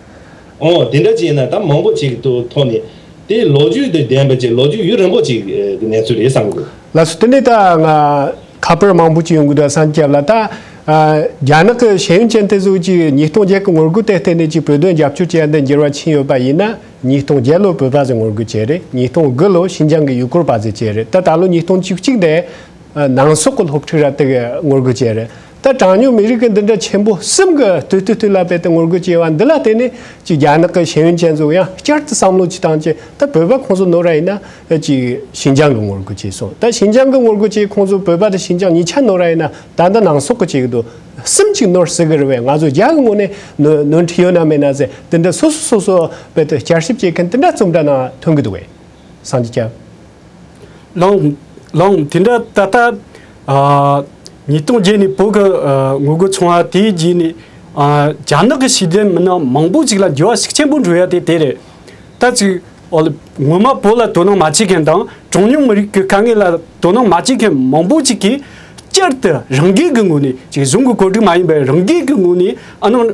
ཨོ། དེ་འདྲ་བྱས་ན་ད་མང་པོ་ཅིག་ཏུ་མཐོང་ནས། དེ་ལོ་རྒྱུས་དེ་བདེན་པ་ཅིག་ལོ་རྒྱུས་ཡུན་རིང་པོ་ཅིག་གི་གནས་ཚུལ་རེད་བསམ་གི་འདུག། ལགས་སོ་དེ་ནས་ད་ང་ཁ་པར་མང་པོ་ཅིག་ཡོང་གི་འདུག་བསམ་སྐྱབས་ལ་ད། རྒྱ་ནག་གི་ཤེས་ཡོན་ཅན་དེ་ཚོ་ཅིག་ཉིས་སྟོང་བརྒྱད་གི་ངོ་རྒོལ་དེ་བརྟེན་ནས་ཅིག་བོད་དོན་རྒྱབ་སྐྱོར་བྱས་འདི་འགྱུར་བ་ཕྱིན་ཡོད་པ་ཡིན་ན། ཉིས་སྟོང་བརྒྱད་ལོར་བོད་པ་ཚོས་ངོ་རྒོལ་བྱས་རེད་ཉིས་སྟོང་དགུ་ལོར་ཤིན་ཅང་གི་ཡུལ་སྐོར་པ་ཚོས་བྱས་རེད་ད་ད་ལོ་ཉིས་སྟོང་བཅུ་གཅིག་འདས། ནང་སོག་གི་སློབ་ཕྲུག་ར་ཏི་གིས་ངོ་རྒོལ་བྱས་རེད། ད་གྲངས་ཉུང་མི་རིགས་ཀྱི་འདི་འདྲ་ཆེན་པོ་གསུམ་གྱི་དུས་བསྟུད་དུས་ལ་དཔེ་དང་ངོ་རྒོལ་བྱས་བ་འདི་ལ་བརྟེན་ནས་ཅིག་རྒྱ་ནག་གི་ཤེས་ཡོན་ཅན་ཚོ་ཡང་བསྐྱར་དུ་བསམ་བློ་གྱིས་བཏང་ཅིག་ད་བོད་པ་ཁོང་ཚོ་ནོར་ར་ཡིན་ན་ཅིག་ཤིན་ཅང་གི་ངོ་རྒོལ་བྱས་སོང་ད་ཤིན་ཅང་གི་ངོ་རྒོལ་བྱས་ཁོང་ཚོ་བོད་པ་དང་ཤིན་ཅང་གཉིས་ཆ་ནོར་ར་ཡིན་ན་ད་འདི་ནང་སོག་གི་བྱེད་གི་འདུག་གསུམ་ཅིག་ནོར་ཟེར་གི་རེད་བས་ང་ཚོ་རྒྱ་གི་ངོ་ནས་ནོར་འཁྲི་ཡོད་ན་མེད་ན་ཟེར་འདི་འདྲ་སོ་སོ་སོ་སོ་བོད་དུ་བསྐྱར་ཞིབ་བྱེད་མཁན་འདི་འདྲ་རྩོམ་འདྲ་ནང་ཐོན་གི་འདུག་བས་སངས་རྒྱས་སྐྱབས། ལངས། དེ་འདྲ་ད་ལྟ། ཉིས་སྟོང་བརྒྱད་ནས་བོད་ཀྱི་ངོ་རྒོལ་བྱུང་བ་དེའི་རྗེས་ནས། རྒྱ་ནག་གི་ཤེས་ལྡན་མི་སྣ་མང་པོ་ཞིག་ལ་འགྱུར་བ་ཤུགས་ཆེན་པོ་འགྲོ་ཡ་དེ་དེ་རེད། ད་ཅིག། ངོ་མ་བོད་ལ་དོ་སྣང་མ་བྱེད་མཁན་དང་གྲངས་ཉུང་མི་རིགས་ཀྱི་དཀའ་ངལ་ལ་དོ་སྣང་མ་བྱེད་མཁན་མང་པོ་ཅིག་གིས། བསྐྱར་དུ་རང་འགུལ་གྱི་ངོས་ནས་ཅིག་གཞུང་གི་བཀོད་སྒྲིག་མ་ཡིན་པའི་རང་འགུལ་གྱི་ངོས་ནས་ཨ་ནང།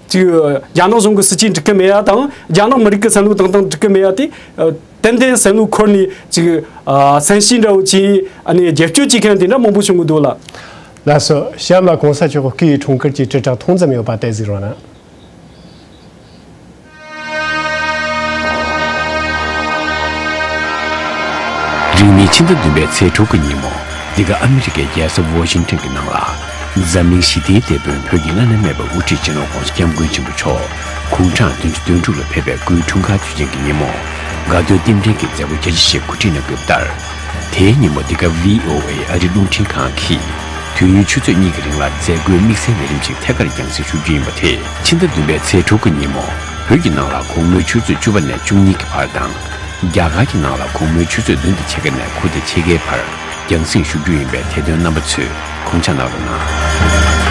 གཅིག། རྒྱ་ནག་གཞུང་གི་སྲིད་ཇུས་འགྲིག་གི་མེད་ཡ་དང་རྒྱ་ནག་མི་རིགས་ཀྱི་བསམ་བློ་དང་དང་འགྲིག་གི་མེད་ཡ་དེ། ཏན་ཏན་བསམ་བློའི་འཁོར་ནས་ཅིག། སན་ཤིན་འདྲ་བོ་ཅིག་ནས་རྒྱལ་སྐྱོད་བྱེད་མཁན་དེ་འདྲ་མང་པོ་བྱུང་གི་འདུག་ལ། ལ་སོ། གཤམ་ལ་གོང་ས་མཆོག་གི་སྐུའི་འཁྲུངས་སྐར་གྱི་དྲིལ་བསྒྲགས་ཐུང་ཙམ་ཡོད་པ་དེ་གཟིགས་རོགས་གནང། རིང་ནི་ཕྱི་ཟླ་བདུན་པའི་ཚེས་དྲུག་གི་ཉིན་མོ་འདི་ག་ཨ་མི་རི་ཀའི་རྒྱལ་ས་ཝོ་ཤིང་ཏོན་གྱི་ནང་ལ། འཛམ་གླིང་ཞི་བདེའི་དེད་དཔོན་བོད་ཀྱི་བླ་ན་མེད་པ་དབུ་ཁྲིད་ཅན་ཨོ་ཀོང་སི་སྐྱབས་མགོན་ཆེན་པོ་མཆོག་གུང་གྲངས་བདུན་ཅུ་དོན་དྲུག་ལ་ཕེབས་པའི་སྐུའི་འཁྲུངས་སྐར་དུས་ཆེན་གྱི་ཉིན་མོ། དགའ་སྟོན་རྟེན་འབྲེལ་གྱི་མཛད་སྒོ་རྒྱ་ཆེ་ཞེས་གོ་སྒྲིག་གནང་སྐབས་ལྟར། དེའི་ཉིན་མོ་འདི་ག VOA ཨ་རི་རླུང་འཕྲིན་ཁང་གིས་དུས་ཡུན་ཆུ་ཚོད་གཉིས་ཀྱི་རིང་ལ་མཛད་སྒོའི་དམིགས་བསལ་ལས་རིམ་ཞིག་ཐད་ཀར་རྒྱང་བསྲིང་ཞུ་རྒྱུ་ཡིན་པ་དེ། ཕྱི་ཟླ་བདུན་པའི་ཚེས་དྲུག་གི་ཉིན་མོ་བོད་ཀྱི་ནང་ལ་གུང་མོའི་ཆུ་ཚོད་བཅུ་བ་ནས་བཅུ་གཉིས་ཀྱི་བར་དང། རྒྱ་གར་གྱི་ནང་ལ་གུང་མོའི་ཆུ་ཚོད་བདུན་ཏུ་ཕྱེད་ཀ་ནས་དགུ་སྟེ་ཕྱེད་ཀའི་བར་རྒྱང་སྲིང་བཞུགས་རྒྱུ་ཡིན་པའི་དེ་དོན་རྣམ་པ་ཚོས་ཁུངས་ཆ་ནག་རུ་གནང།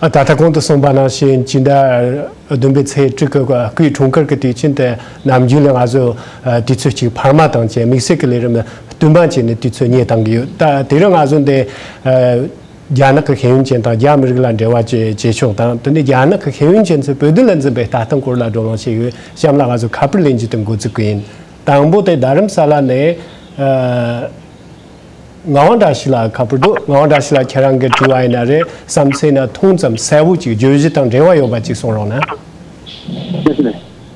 ད་ལྟ་གོང་དུ་གསུངས་པ་ནང་བཞིན་ཕྱི་ཟླ་བདུན་པའི་ཚེས་དྲུག་གི་དགུའི་འཁྲུངས་སྐར་གྱི་དུས་ཆེན་དེ། ནམ་རྒྱུན་ལས་ང་ཚོས་དུས་ཚོད་གཅིག་འཕར་མ་དང་བཅས་དམིགས་བསལ་གྱི་ལས་རིམ་ལ་བསྟུན་པ་བྱས་ནས་དུས་ཚོད་གཉེར་བཏང་གི་ཡོད། ད་དེ་རིང་ང་ཚོ་འདི། རྒྱ་ནག་གི་ཤེས་ཡོན་ཅན་དང་རྒྱ་མི་རིགས་ལ་འབྲེལ་བ་བཅས་བྱེད་ཕྱོགས་དང་དེ་ནས་རྒྱ་ནག་གི་ཤེས་ཡོན་ཅན་ཚོས་བོད་དོན་ལ་འཛིན་པའི་ལྟ་སྟངས་སྐོར་ལ་བགྲོ་གླེང་བྱེད་ཡུལ་གཤམ་ལ་ང་ཚོས་ཁ་པར་ལེན་རྒྱུ་དེ་འགོ་བཙུགས་གི་ཡིན། དང་པོ་དེ་རྡ་རམ་ས་ལ་ནས། ངག་དབང་བཀྲ་ཤིས་ལགས་ཁ་པར་འདུག་ངག་དབང་བཀྲ་ཤིས་ལགས་ཁྱེད་རང་གི་དྲི་བ་ཡིན་ན་རེ་བསམ་ཚེ་ན་ཐུང་ཙམ་གསལ་བོ་ཅིག་བརྗོད་གཞི་དང་འབྲེལ་བ་ཡོད་པ་ཅིག་གསུང་རོགས་གནང། བཀྲ་ཤིས་ལགས།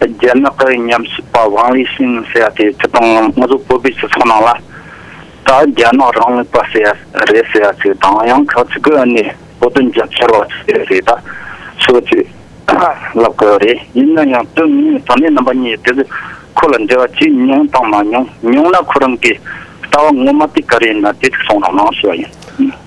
རྒྱ་ནག་གི་ཉམས་ཞིབ་པ་ཝང་ལི་ཤིན་ཟེར་བ་དེས་ཁྱེད་དང་ངོ་ཚོ་བོད་པའི་སྤྱི་ཚོགས་ནང་ལ་ད་རྒྱ་ནག་རང་ལུགས་པ་ཟེར་བ་རེད་ཟེར་བ་ཚོས་དང་ཡང་ཁག་ཅིག་གིས་ནས་བོད་དོན་རྒྱབ་སྐྱོར་བ་ཟེར་བ་ཚོས་ད་ཚོད་ཚོད་ལབ་གི་རེད་ཡིན་ན་ཡང་དོན་དངོས་དོན་གནད་རྣམ་པ་གཉིས་དེ་ཚོས་ཁོ་ལ་འབྲེལ་བ་བྱས་མྱོང་དང་མ་མྱོང་མྱོང་ན་ཁོ་རང་གིས་ལྟ་བ་ངོ་མ་དེ་ག་རེ་ཡིན་ན་དེ་ཚོས་གསུངས་རོགས་གནང་ཞེས་པ་ཡིན།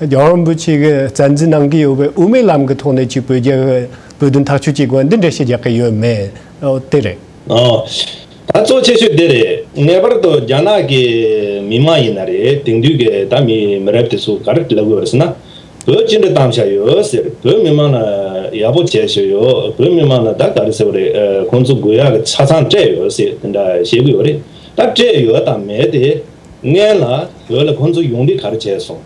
རྒྱལ་ཡོངས་རིན་པོ་ཆེ་གིས་རྩ་འཛིན་གནང་གི་ཡོད་པའི་དབུ་མའི་ལམ་གྱི་ཐོག་ནས་ཀྱི་བོད་རྒྱའི་བོད་དོན་ཐག་གཅོད་ཀྱི་དགོན་སྡེ་འགྲེལ་བཤད་རྒྱག་གི་ཡོད་མེད་དེ་རེད། ད་གཙོ་ཆེ་ཤོས་དེ་རེད། ངེས་པར་དུ་རྒྱ་ནག་གི་མི་མང་ཡིན་ན་རེད་དེང་དུས་ཀྱི་ད་མི་མི་རབས་དེ་ཚོ་ག་རེ་ལབ་ཡོད་རེད་ཟེར་ན། བོད་ཅི་འདྲ་གཏམ་བྱ་ཡོད་ཟེར་བོད་མི་མང་ལ་ཡག་པོ་བྱས་ཟེར་ཡོད་བོད་མི་མང་ལ་ད་ག་རེ་ཟེར་བ་རེད་ཁོང་ཚོ་དགོས་ཡག་གི་ཆ་ཚང་སྤྲད་ཡོད་ཟེར་དེ་འདྲ་བཤད་གི་ཡོད་རེད་ད་སྤྲད་ཡོད་དང་མེད་དེ་ལྔའི་ལ་བོད་ལ་ཁོང་ཚོ་ཡོང་འབྲི་ག་རེ་བྱས་སོང།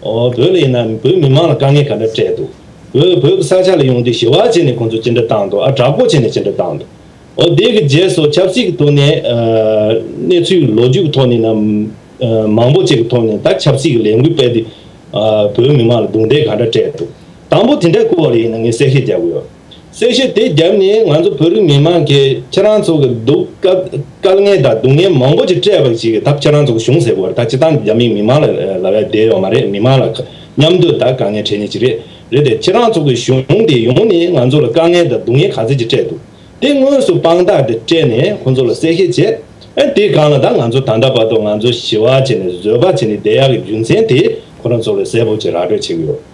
བོད་ལ་ཡིན་ན་བོད་མི་མང་ལ་དཀའ་ངལ་ག་འདྲ་སྤྲད་འདུག་བོད་བོད་ཀྱི་ས་ཆ་ལ་ཡོང་འབྲི་ཞི་བ་བྱས་ནས་ཁོང་ཚོ་ཅི་འདྲ་བཏང་འདུག་ཨ་དྲག་པོ་བྱས་ནས་ཅི་འདྲ་བཏང་འདུག་འོ་དེ་གི་རྗེས་སུ་ཆབ་སྲིད་ཀྱི་ཐོག་ནས་གནས་ཚུལ་ལོ་རྒྱུས་ཀྱི་ཐོག་ནས་ནམ་མང་པོ་བཅས་ཀྱི་ཐོག་ནས་ད་ཆབ་སྲིད་ཀྱི་ལས་འགུལ་སྤེལ་ཏེ་བོད་མི་མང་ལ་རྡུང་རྡེག་ག་འདྲ་སྤྲད་འདུག་དང་པོ་དེ་འདྲ་སྐུ་བ་ལ་ཡིན་ན་ངས་གསལ་བཤད་རྒྱག་གི་ཡོད། གསལ་བཤད་དེ་བརྒྱབ་ནས་ང་ཚོ་བོད་རིགས་མི་མང་གིས་ཁྱེད་རང་ཚོ་གི་སྡུག་དཀའ་ངལ་དང་སྡུག་བསྔལ་མང་པོ་ཅིག་སྤྲད་པ་ཞིག་གི་ད་ཁྱེད་རང་ཚོ་གི་གཞུང་ཟེར་བར་ད་ཅི་ཏང་རྒྱ་མིས་མི་མང་ལ་ལ་བས་བསྡད་ཡོག་མ་རེད་མི་མང་ལ་མཉམ་དུ་ད་དཀའ་ངལ་འཕྲད་ཉེ་ཅིག་རེད་རེད་དེ་ཁྱེད་རང་ཚོ་གི་གཞུང་དེ་ཡོང་ནས་ང་ཚོ་ལ་དཀའ་ངལ་དང་སྡུག་བསྔལ་ག་ཚད་ཅིག་སྤྲད་འདུག་དེ་དངོས་སུ་དཔང་རྟགས་དེ་སྤྲད་ནས་ཁོང་ཚོ་ལ་གསལ་བཤད་བྱེད་དེ་གང་ལ་ད་ང་ཚོ་ད་ལྟ་བར་དུ་ང་ཚོ་ཞི་བ་བྱས་ནས་བཟོད་པ་བྱས་ནས་བསྡད་ཡག་གི་རྒྱུ་མཚན་དེ་ཁོ་རང་ཚོ་ལ་གསལ་པོ་ཅིག་ར་སྤྲོད་བྱེད་ཀྱི་ཡོག།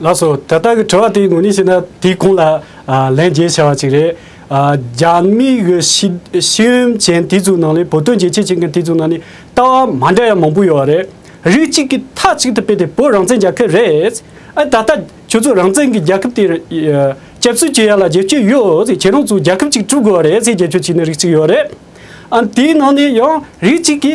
ལགས་སོ། དེ་ལྟར་གྱི་དྲི་བ་དེའི་ངོས་ནས་བཤད་ན་དེའི་ཁོང་ལ་ལན་འཇལ་བྱ་བ་གཅིག་རེད། རྒྱ་མིའི་གི་ཤེས་ཡོན་ཅན་དེ་ཚོའི་ནང་ནས་བོད་དོན་རྒྱལ་གཅེས་བྱེད་མཁན་དེ་ཚོའི་ནང་ནས་ལྟ་བ་མ་འདྲ་ཡ་མང་པོ་ཡོད་རེད། རིགས་གཅིག་གི་མཐའ་གཅིག་ཏུ་དཔེ་དེ་བོད་རང་བཙན་རྒྱལ་ཁབ་རེད། ཨ་ད་ལྟ་ཁྱོད་ཚོ་རང་བཙན་གྱི་རྒྱལ་ཁབ་དེ་སྐྱབས་བསུ་བྱེད་ཡ་ལ་རྒྱལ་གཅེས་ཡོད་ཚེ་ཁྱེད་རང་ཚོ་རྒྱལ་ཁབ་གཅིག་དཀྲུག་དགོས་རེད་ཚེ་རྒྱལ་ཁྱོད་ཅིག་ནས་རིགས་གཅིག་ཡོད་རེད། ཨ་དེའི་ནང་ནས་ཡང་རིགས་གཅིག་གི།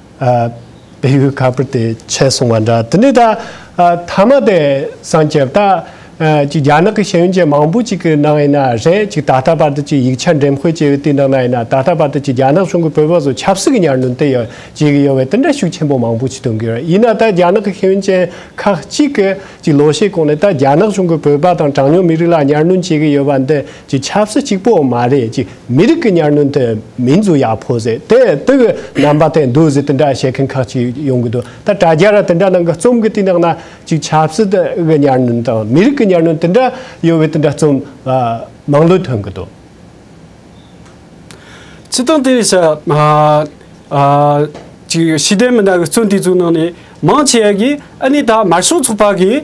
བལ་ཡུལ་ག་པུར་དེ་ཆད་སོང་བ་འདྲ་དེ་ནས་ད་ཐ་མ་དེ་སངས་རྒྱས་ད་ཅིག་རྒྱ་ནག་གི་ཤེས་ཡོན་ཅན་མང་པོ་ཅིག་གི་ནང་ཡིན་ན་རེད་ཅིག་ད་ལྟ་བར་དུ་ཅིག་ཡིག་ཆ་འགྲེམས་སྤེལ་བྱས་ཡོད་དུས་ནང་ན་ཡིན་ན་ད་ལྟ་བར་དུ་ཅིག་རྒྱ་ནག་གཞུང་གི་བོད་པ་ཚོ་ཆབ་སྲིད་ཀྱི་ཉར་འདོན་དེ་ཡོད་བྱེད་ཀྱི་ཡོད་བས་དེ་འདྲ་ཤུགས་ཆེན་པོ་མང་པོ་ཅིག་སྟོན་གྱི་ཡོད་ཡིན་ན་ད་རྒྱ་ནག་གི་ཤེས་ཡོན་ཅན་ཁག་ཅིག་གིས་ཅིག་ལོ་ཤས་གོང་ནས་ད་རྒྱ་ནག་གཞུང་གི་བོད་པ་དང་གྲངས་ཉུང་མི་རིགས་ལ་ཉར་འདོན་བྱེད་ཀྱི་ཡོད་པ་འདི་ཀྱི་ཆབ་སྲིད་གཅིག་པོ་མ་རེད་ཅིག་མི་རིགས་ཀྱི་ཉར་སྣོན་དེ་མིན་རྫུ་ཡག་ཕོ་ཟེར་དེ་དེ་གི་རྣམ་པ་དེ་འདུག་ཟེར་དེ་འདྲ་བཤད་མཁན་ཁག་ཅིག་ཡོང་གི་འདུག་ད་དྲ་རྒྱ་ར་དེ་འདྲ་ནང་གི་རྩོམ་གི་དེ་ནང་ན་ཅིག་ཆབ་སྲིད་གི་ཉར་སྣོན་དང་མི་རིགས་ཀྱི་ཉར་སྣོན་དེ་འདྲ་ཡོད་བའི་དེ་འདྲ་རྩོམ་མང་ལོས་ཐོན་གི་འདུག། སྤྱི་སྟངས་དེ་ས་ཅིག་ཤེས་ལྡན་མི་སྣ་གི་རྩོམ་དེ་ཚོའི་ནང་ནས་མང་ཆེ་བ་གིས་ཨ་ནི་ད་དམར་ཤོག་ཚོགས་པ་གིས་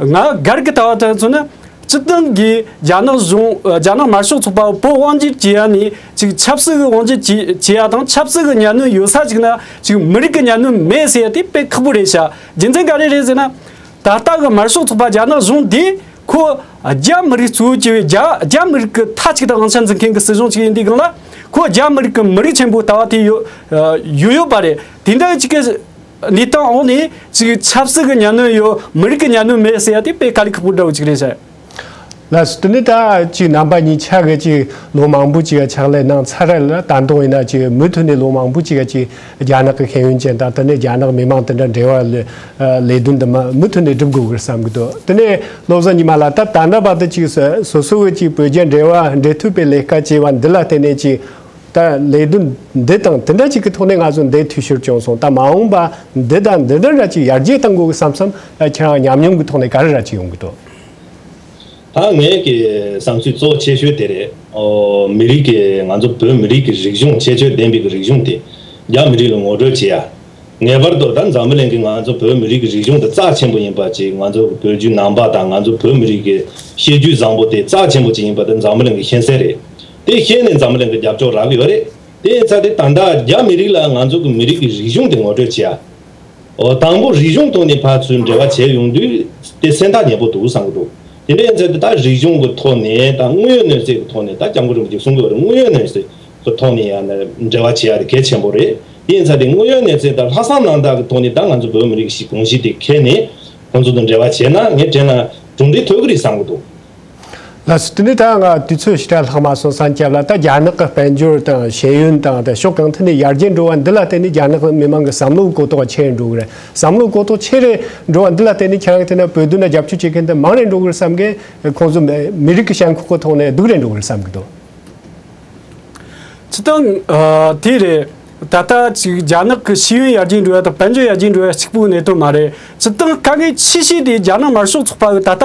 ང་སྒར་གྱི་ལྟ་བ་ལྟར་མཚོན་ན། སྤྱི་དོན་གྱིས་རྒྱ་ནག་གཞུང་རྒྱ་ནག་དམར་ཤོག་ཚོགས་པ་བོད་དབང་བསྒྱུར་བྱེད་ཡ་ནི་ཅིག་ཆབ་སྲིད་དབང་བསྒྱུར་བྱེད་ཡ་དང་ཆབ་སྲིད་ཀྱི་གཉའ་གནོན་ཡོད་ས་ཅིག་ན་ཅིག་མི་རིགས་ཀྱི་གཉའ་གནོན་མེད་ཟེར་ཡ་དེ་དཔེ་ཁག་པོ་རེད་བྱ་རྒྱུ་མཚན་ག་རེ་རེད་ཟེར་ན། ད་ལྟ་གི་དམར་ཤོག་ཚོགས་པ་རྒྱ་ནག་གཞུང་འདི་ཁོ་རྒྱ་མི་རིགས་གཙོ་བོ་བྱས་པའི་རྒྱ་མི་རིགས་ཀྱི་མཐའ་ཅིག་དང་དབང་ཆ་འཛིན་མཁན་གྱི་སྲིད་གཞུང་ཅིག་ཡིན་དུས་གང་ལ་ཁོ་རྒྱ་མི་རིགས་ཀྱི་མི་རིགས་ཆེན་པོའི་ལྟ་བ་དེ་ཡོད་ཡོད་པ་རེད་དེ་འདྲ་ཡོད་ཅིག་གི། ལི་ཏང་ཨོ་ནི་ཅིག་ཆབ་སྲིད་ཀྱི་གཉའ་གནོན་ཡོད་མི་རིགས་ཀྱི་གཉའ་གནོན་མེད་ཟེར་ཡ་དེ་དཔེ་ག་ལི་ཁ་པོ་འདྲ་བོ་ཅིག་རེད་ཟེར། ལ་སི་ཏུ་ནི་ད་ཅིག་རྣམ་པ་གཉིས་ཆགས་གི་ཅིག་ལོ་མང་པོ་ཅིག་ཕྱག་ལས་གནང་ཚར་རེད་ལ་ད་དུང་ཡིན་ན་ཅིག་མུ་མཐུད་ནས་ལོ་མང་པོ་ཅིག་ཅིག་རྒྱ་ནག་གི་ཤེས་ཡོན་ཅན་དང་དེ་ནས་རྒྱ་ནག་མི་མང་དེ་འདྲ་འབྲེལ་བ་ལས་ལས་དོན་དུ་མ་མུ་མཐུད་ནས་སྒྲུབ་དགོས་གི་རེད་བསམ་གི་འདུག་དེ་ནས་བློ་བཟང་ཉི་མ་ལ་ད་ད་འདྲ་བ་དེ་ཅིག་སོ་སོ་གི་ཅིག་བོད་རྒྱ་འབྲེལ་བ་འབྲེལ་མཐུད་པའི་ལས་ཀ་བྱས་བ་འདི་ལ་བརྟེན་ནས་ཅིག་ད་ལས་དོན་འདི་དང་དེ་འདྲ་གཅིག་གི་ཐོག་ནས་ང་ཚོ་འདས་འཐུས་ཤོར་བྱུང་སོང་ད་མ་འོངས་པ་འདི་དང་འདི་འདྲ་འདྲ་ཅིག་ཡར་རྒྱས་གཏང་དགོས་གི་བསམ་བསམ་ཁྱེད་རང་ཉམས་མྱོང་གི་ཐོག་ནས་ག་རེ་ར་ཅིག་ཡོང་གི་འདུག། ད་ངས་ཀྱི་བསམ་ཚུལ་གཙོ་བོ་ཆེ་ཤོས་དེ་རེད། མི་རིགས་ཀྱི་ང་ཚོ་བོད་མི་རིགས་ཀྱི་རིག་གཞུང་ཁྱད་ཆོས་ལྡན་པའི་གི་རིག་གཞུང་དེ་རྒྱ་མི་རིགས་ལ་ངོ་སྤྲོད་བྱེད་ཡ། ངེས་པར་དུ་ད་འཛམ་བུ་གླིང་གི་ང་ཚོ་བོད་མི་རིགས་ཀྱི་རིག་གཞུང་དེ་རྩ་ཆེན་པོ་ཡིན་པ་ཅིག་ང་ཚོ་བོད་བརྒྱུད་ནང་པ་དང་ང་ཚོ་བོད་མི་རིགས་ཀྱི་ཤེས་རྒྱུད་བཟང་པོ་དེ་རྩ་ཆེན་པོ་ཅིག་ཡིན་པ་དེ་འཛམ་བུ་གླིང་གི་ཤེས་གསལ་རེད། དེ་ཤེས་ནས་འཛམ་གླིང་གི་རྒྱབ་ལྗོངས་རག་གི་ཡོད་རེད། དེ་ཡིན་ཚ་དེ་ད་ལྟ་རྒྱ་མི་རིགས་ལ་ང་ཚོ་གི་མི་རིགས་ཀྱི་རིག་གཞུང་དེ་ངོ་སྤྲོད་བྱེད་ཨོ། དང་པོ་རིག་གཞུང་ཐོག་ནས་ཕར་ཚུར་འབྲེལ་བ་བྱས་ཡོང་དུས་དེ་སེམས་ཐག་ཉེ་པོ་འདུག་བསམ་གི་འདུག་དེ་འདྲ་ཡིན་ཚ་དེ་ད་རིག་གཞུང་གི་ཐོག་ནས་ད་དངོས་ཡོད་གནོད་འཚེ་གི་ཐོག་ནས་ད་སྐྱབས་མགོན་རིན་པོ་ཆེ་གསུང་གི་ཡོད་རེད་དངོས་ཡོད་གནོད་འཚེ་གི་ཐོག་ནས་ཡང་ན་འབྲེལ་བ་བྱེད་ཡ་དེ་གལ་ཆེན་པོ་རེད་དེ་ཡིན་ཚ་དེ་དངོས་ཡོད་གནོད་འཚེ་ད་ལྷག་བསམ་རྣམ་དག་གི་ཐོག་ནས་ད་ང་ཚོ་བོད་མི་རིགས་ཞིག་གོང་བཞིན་དེ་ཁེལ་ནས་ཁོང་ཚོ་དང་འབྲེལ་བ་བྱས་ན་ངས་དྲན་ན་གྲུང་འབྲེལ་ཐོད་གི་རེད་བསམ་གི་འདུག། ལགས་སོ། དེ་ནས་ད་ང་དུས་ཚོད་ཕྱི་དྲག་ལྷག་མ་སོང་སང་སྐྱབས་ལ་ད་རྒྱ་ནག་གི་དཔལ་འབྱོར་དང་ཤེས་ཡོན་དང་ད་ཕྱོགས་གང་ཐད་ནས་ཡར་རྒྱས་འགྲོ་བ་འདི་ལ་བརྟེན་ནས་རྒྱ་ནག་མི་མང་གི་བསམ་བློའི་གོ་རྟོགས་ཆེ་རེ་འགྲོ་གི་རེད་བསམ་བློའི་གོ་རྟོགས་ཆེ་རེ་འགྲོ་བ་འདི་ལ་བརྟེན་ནས་ཁྱེད་རང་གི་ཐད་ན་བོད་དོན་ལ་རྒྱབ་སྐྱོར་བྱེད་མཁན་དེ་མང་རེ་འགྲོ་གི་རེད་བསམ་མཁན་ཁོང་ཚོ་མི་རིགས་ཀྱི་ཞེན་ཁོག་གི་ཐོག་ནས་སྡུག་རེ་འགྲོ་གི་རེད་བསམ་གི་འདུག། ཅི་སྟེ། དེ་རེད། ད་ལྟ་ཅིག་རྒྱ་ནག་གི་ཤེས་ཡོན་ཡར་རྒྱས་འགྲོ་བ་དང་དཔལ་འབྱོར་ཡར་རྒྱས་འགྲོ་བ་གཅིག་པུའི་གནད་དོན་མ་རེད་ཅི་སྟེ་དཀའ་ངལ་ཆེ་ཤོས་དེ་རྒྱ་ནག་དམར་ཤོག་ཚོགས་པ་གིས་ད་ལྟ་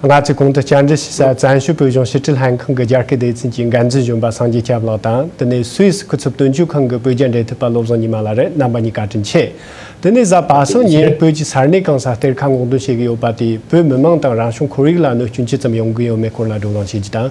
སྔ་ཚིག་གོང་དུ་བསྐྱར་འབྲི་བྱེད་སར་བཙན་བྱོལ་བོད་གཞུང་ཕྱི་དྲིལ་ལྷན་ཁང་གི་རྒྱ་སྐད་སྡེ་ཚན་གྱི་འགན་འཛིན་གཞོན་པ་སངས་རྒྱས་སྐྱབས་ལགས་དང་དེ་ནས་སུད་སི་སྐུ་ཚབ་དོན་གཅོད་ཁང་གི་བོད་རྒྱ་འབྲེལ་མཐུད་པ་བློ་བཟང་ཉི་མ་ལགས་རེད་རྣམ་པ་གཉིས་བཀའ་དྲིན་ཆེ། དེ་ནས་གཟའ་པ་སངས་ཉིན་བོད་ཀྱི་སར་གནས་གང་སར་གཏེར་ཁ་སྔོག་འདོན་བྱེད་ཀྱི་ཡོད་པ་དེས་བོད་མི་མང་དང་རང་བྱུང་ཁོར་ཡུག་ལ་གནོད་སྐྱོན་ཅི་ཙམ་ཡོང་གི་ཡོད་མེད་སྐོར་ལ་བགྲོ་གླེང་བྱེད་རྒྱུ་དང།